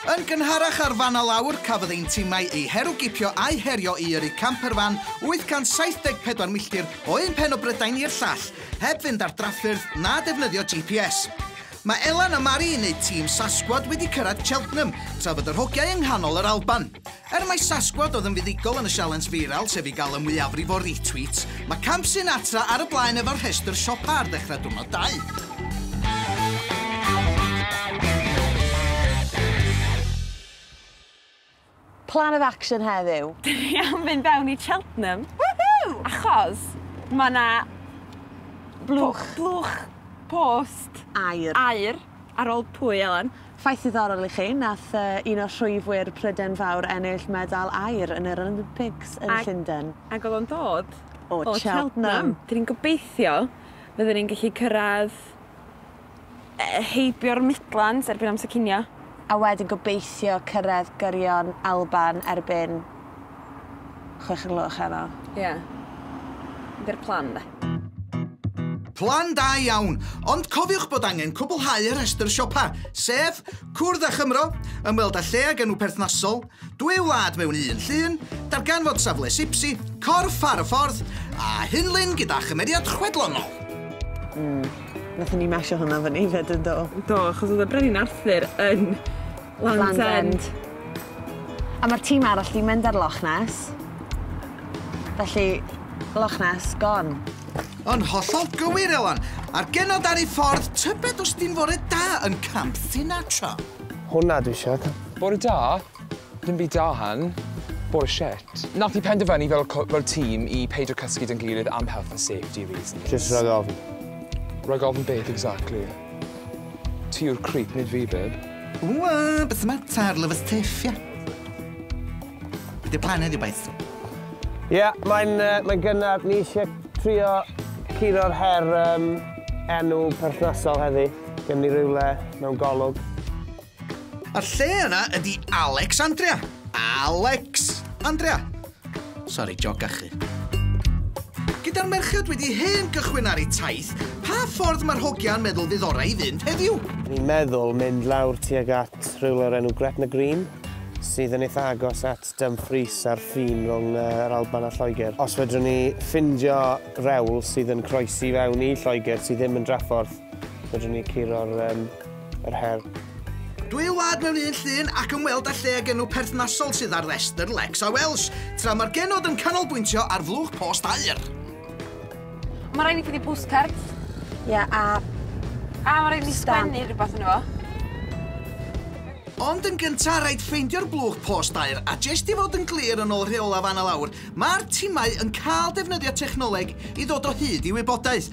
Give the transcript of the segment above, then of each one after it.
Yn gynharach ar fan lawr, cafodd ein timau eu herwgipio a'i herio i yrru camperfan 874 milltir o un pen o Brydain i'r llall, heb fynd ar draffyrdd na defnyddio GPS. Mae Elan a Mari yn eu tîm Sasquad wedi cyrraedd Cheltenham, tra fod yr hogiau yng nghanol yr Alban. Er mai Sasquad oedd yn fuddugol yn y sialens feiral, sef i gael y mwyafrif o retweets, mae Camp Sinatra ar y blaen efo'r rhestr siopa ar ddechrau diwrnod dau. Plan of action heddiw. Dyn ni am fynd fewn i Cheltenham. Woohoo! Achos mae 'na... Blwch. ...blwch post. Aur. Aur. Ar ôl pwy, Elen? Ffaith ddiddorol i chi, nath un o'r rhwywwyr Pryden Fawr ennill medal aur yn yr Olympics yn Llunden. Ac oedd o'n dod o Cheltenham. Dyn ni'n gobeithio fydden ni'n gallu cyrraedd heibio'r Midlands erbyn amser cinio. A wedyn gobeithio cyrraedd gyrion Alban erbyn chwech o'r gloch heno. Ie. Dy'r plan 'de. Plan da iawn, ond cofiwch bod angen cwblhau y rhestr siopa, sef, cwrdd â Chymro, ymweld â lle ag enw perthnasol, dwy wlad mewn un llun, darganfod safle Sipsi, corff ar y ffordd, a hunlun gyda chymeriad chwedlonol. Mm. Nathon ni mesio hwnna fyny 'fyd yn do? Do, achos oedd y Brenin Arthur yn Land's End. A ma'r tîm arall 'di mynd ar Loch Ness. Felly, Loch Ness, gone. Yn hollol gywir, Elan. A'r genod ar ei ffordd, tybed os di'n fore da yn Camp Sinatra? Hwnna dwi isio. Bore da? Dim byd da hun. Bore shit. Nath ni penderfynu fel co- fel tîm i peidio cysgu 'da'n gilydd am health and safety reasons. Jyst rhag ofn. Rhag ofn beth exactly? Ti yw'r creep, nid fi, babe. Wwa, beth y mater, love us tiff, ia? Be di'r plan heddiw, boys? Ie, yeah, mae'n uh, mae gynnar, ni eisiau trio curo'r her um, enw perthnasol heddi. Gym ni rhywle mewn golwg. A'r lle yna ydy Alexandria. Alex Andrea. Sori, jog gachu. Gyda'r merched wedi hen gychwyn ar eu taith, pa ffordd mae'r hogiau'n meddwl fydd orau i fynd heddiw? Ni'n meddwl mynd lawr tuag at rhywle o'r enw Gretna Green, sydd yn eitha agos at Dumfries a'r ffin rhwng yr Alban a Lloegr. Os fedrwn ni ffindio rewl sydd yn croesi fewn i Lloegr sydd ddim yn draffordd, fedrwn ni curo'r um, yr her. Dw i'n wlad mewn un llun ac ymweld â lle ag enw perthnasol sydd ar restr Leks a Welsh, tra mae'r genod yn canolbwyntio ar flwch post aer. Mae rhaid i chi di postcard. Ie, a... A mae rhaid i ni sgwennu rhywbeth yn efo. Ond yn gyntaf, rhaid ffeindio'r blwch post aer, a jest i fod yn glir yn ôl rheola fan a lawr, mae'r timau yn cael defnyddio technoleg i ddod o hyd i wybodaeth,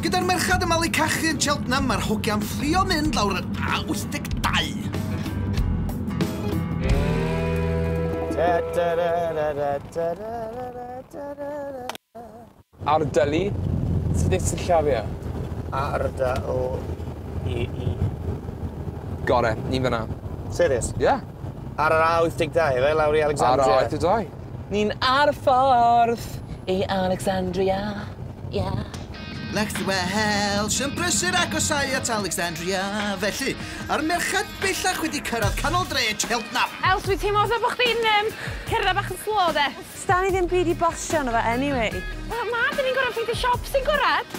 Gyda'r merched yn malu cachu yn Cheltenham, mae'r hogiau'n fflio mynd lawr yr A82. Ardalu, sut sillafu A R D O E E. Got it, ni'n fan'na. Serious? Yeah. Ar yr A82 ife, lawr i Alexandria? Ar yr A82. Ni'n ar y ffordd i Alexandria, yeah. Like the Welsh yn brysur agosáu at Alexandria, felly, a'r merched bellach wedi cyrraedd canol dre Cheltenham. Els, dwi'n teimlo fatha bo' chdi'n yym cerdded bach yn slow 'de. Sdan ni ddim byd i basio yno fo anyway. Wel na, 'dan ni'n gorod ffeindio siop sy'n gorad.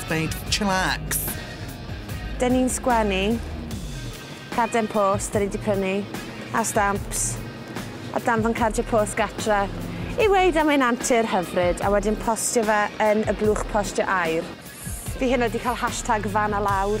Gwneud chillax. Dyn ni'n sgwennu, carden post dyn ni 'di prynu, a stamps, a danfon cardiau post gartre i ddweud am ein antur hyfryd, a wedyn postio fe yn y blwch postio aur. Fi heno 'di cael hashtag fan a lawr.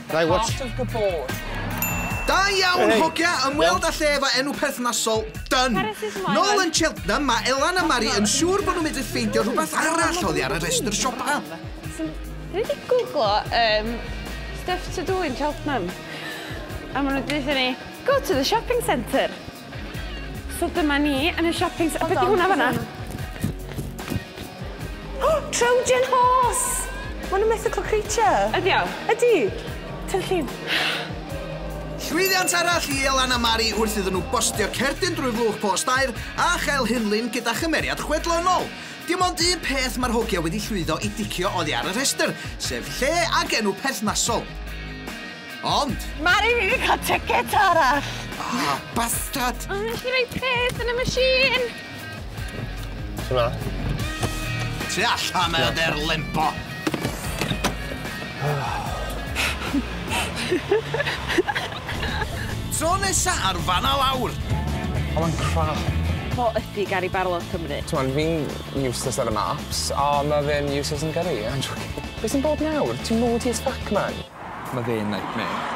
Dau what? Part of the board. Da iawn, hogia! Ymweld â lle efo enw perthnasol, dyn. Nôl yn Cheltenham, mae Elan a Mari yn siŵr bod nhw'n mynd i ffeindio rhywbeth arall oddi ar y rhestr siopa. Dwi wedi googlo um, stuff to do in Cheltenham. A maen nhw'n dweud ni, go to the shopping centre. So dyma ni yn y shopping centre. Be di hwnna fanna? Oh, Trojan horse! Ma' nhw'n mythical creature. Ydi o? Ydi. Ti'n llun. Llwyddiant arall i Elan a Mari wrth iddyn nhw bostio cerdyn drwy flwch post aer a chael hunlun gyda chymeriad chwedlonol. Dim ond un peth mae'r hogia wedi llwyddo i dicio oddi ar y rhestr, sef lle ac enw perthnasol. Ond! Mari, fi wedi cael ticket arall! Ah, bastard! O, nes i roi pres yn y machine! Ti'n dda? Ti allan mae o der lembo! Tro nesa ar fanna lawr! Oedd o'n crap. Fo ydi Gary Barlow Cymru. T'mod, fi'n useless ar y maps, a ma' fe'n useless yn gyrru, I'm joking. Be' sy'n bod nawr? Ti'n moody as fuck man. Ma fe'n nightmare.